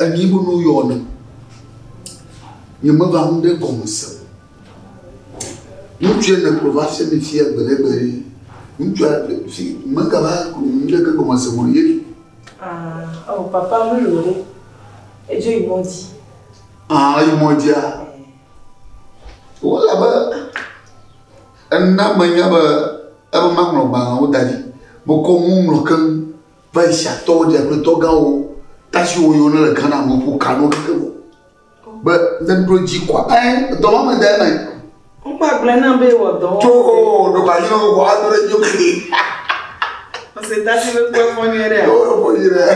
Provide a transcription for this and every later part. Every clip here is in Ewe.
Enyi bu nu yɔ ne. Nye me va nu ɖe gɔme se. Ŋutsu ye ne klo va fia mi fia gbe ɖe gbe ye. Ŋutsu a ɖe fi me ka va klo nu ɖe ke gɔme se mo ye. Ah, oh papa mu lo ɖe. Edzo yi mɔ dzi. Ah, yi mɔ dzi a. Wala be ena me nya be ebe ma ŋlɔ gbalẽ wo da ɖi. Mekɔ mu ŋlɔ keŋ. Persiatɔwo dze aƒetɔ gãwo, tasiwo yiwo nele Ghana me ƒo ka ɖo keke ŋu be ne ɖo edzi kɔa ɛ dɔ ma me de eme. Wova gblɔe nam be ewɔ dɔ. Tso o ɖeko anyi ne wokɔ ado ɖe dzi keke. Ɔse tasi be kpɔ efɔ nyuie ɖe. Kpɔ efɔ nyuie ɖe.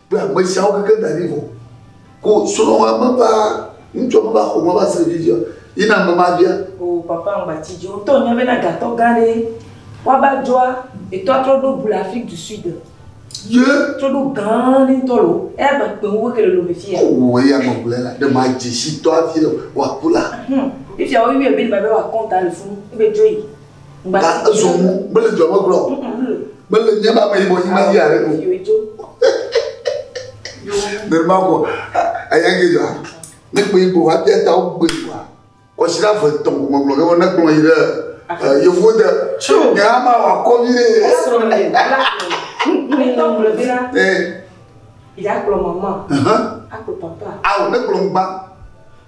Be ame siawo keke da ɖi vɔ. Ko srɔ wa me ba ŋtsɔ me ba xɔ me ba se vi via yi na me ma via. O papa ŋgba ci ji o tɔ nya be na gatɔ gã ɖe wa ba djoa etɔ atrɔ ɖo bu le Afrique du Sud ye trɔ ɖo gã ɖe ŋtɔ lo eya gba kpe ŋu ke le lo me fi ya o eya me gblɔ la ɖe ma dzi si tɔ avi le wa ku la. Humm fifia wo yɔe be ɖe ma be wa kɔnta le funu ebe djoyi. Ga ezu ŋu mele dua me gblɔ. Mele nye ma me yibɔ yi ma yi are o. Nenema ko aya ke dua. Ne kpe yibɔ wa bia ta wo gbe wa. Kɔsira ve tɔn ko me gblɔ ke ne gblɔ yi ɖe yevu de. Nye ama wa kɔ vi ɖe. Ne tɔn gblɔ bi na. Eh. Ya kplɔ mama. Akplɔ papa. Awo ne kplɔ ngba.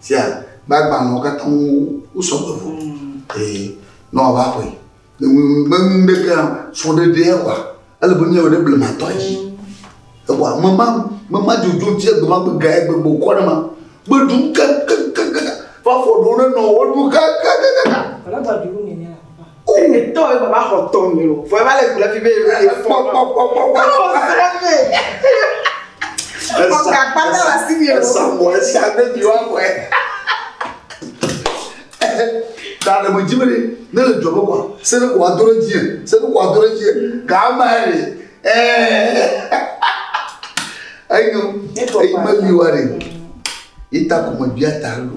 Sia be agbalẽwo katã ŋu wosɔ gbe vɔ. Eye ne wòava aƒe, ne menu ɖeke hã srɔ̃ ɖe ɖe ewa, ele be nu ya wɔ ɖe blematɔ dzi. Ewa me ma me ma dzodzo dzi egbe ma gbe ga egbe gbe wòkɔ ɖe ma gbe ɖum kekekeŋ va fɔ ɖewo ɖe nɔwo ɖum kekekeŋ. Ene tɔ ye baba xɔ tɔ mi o. Fɔ ye va le ku ɖe fi be enu ye fɔ kpɔ kpɔ kpɔ kpɔ. Alo sra me. Esa esa esa mɔ esa ne mi wa mɔ ye. Ta ɖe me dzi me ne ne le dzɔ me kɔ se ne kɔ wa do ɖe dzi ye se ne kɔ wa do ɖe dzi ye ga ama ye le ɛɛ eyi eyi me mi wa ɖe. Ita kò me bia ta lo.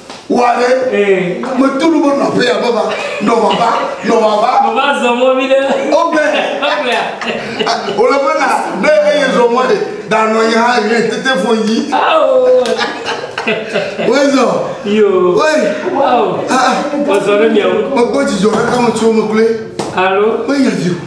Wa ɖe. Ee. Me tu nu be nɔ aƒe ya be va. Nɔ va va. Nɔ va va. Nɔ va zɔ mɔ mi ɖe. O bɛ. Ɔbɛa. O le be na ne eye zɔ mɔ de. Da nɔ yi hã yi tete fo yi. Awo. Wei zɔ. Yo. Wei. Wow. Ah. Wazɔ ɖe miawo. Mekpɔ dzidzɔ ɖe kame tso me kple. Alo. Menye dzidzɔ.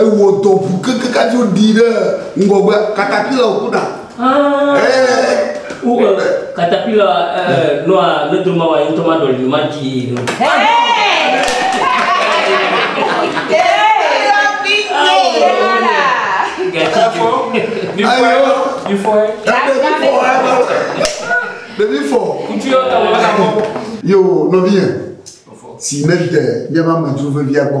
Ewɔ dɔ ŋu keŋkeŋ hafi woɖii ɖe ŋgɔgbe. Katapila wòku ɖa. Katapila nɔa ne dro mawa ye ŋutɔ maɖɔli nu madzii nu. Ɖevi fɔ. Yo nɔvinyɛ si nede míaƒe amedzro vevia gbɔ.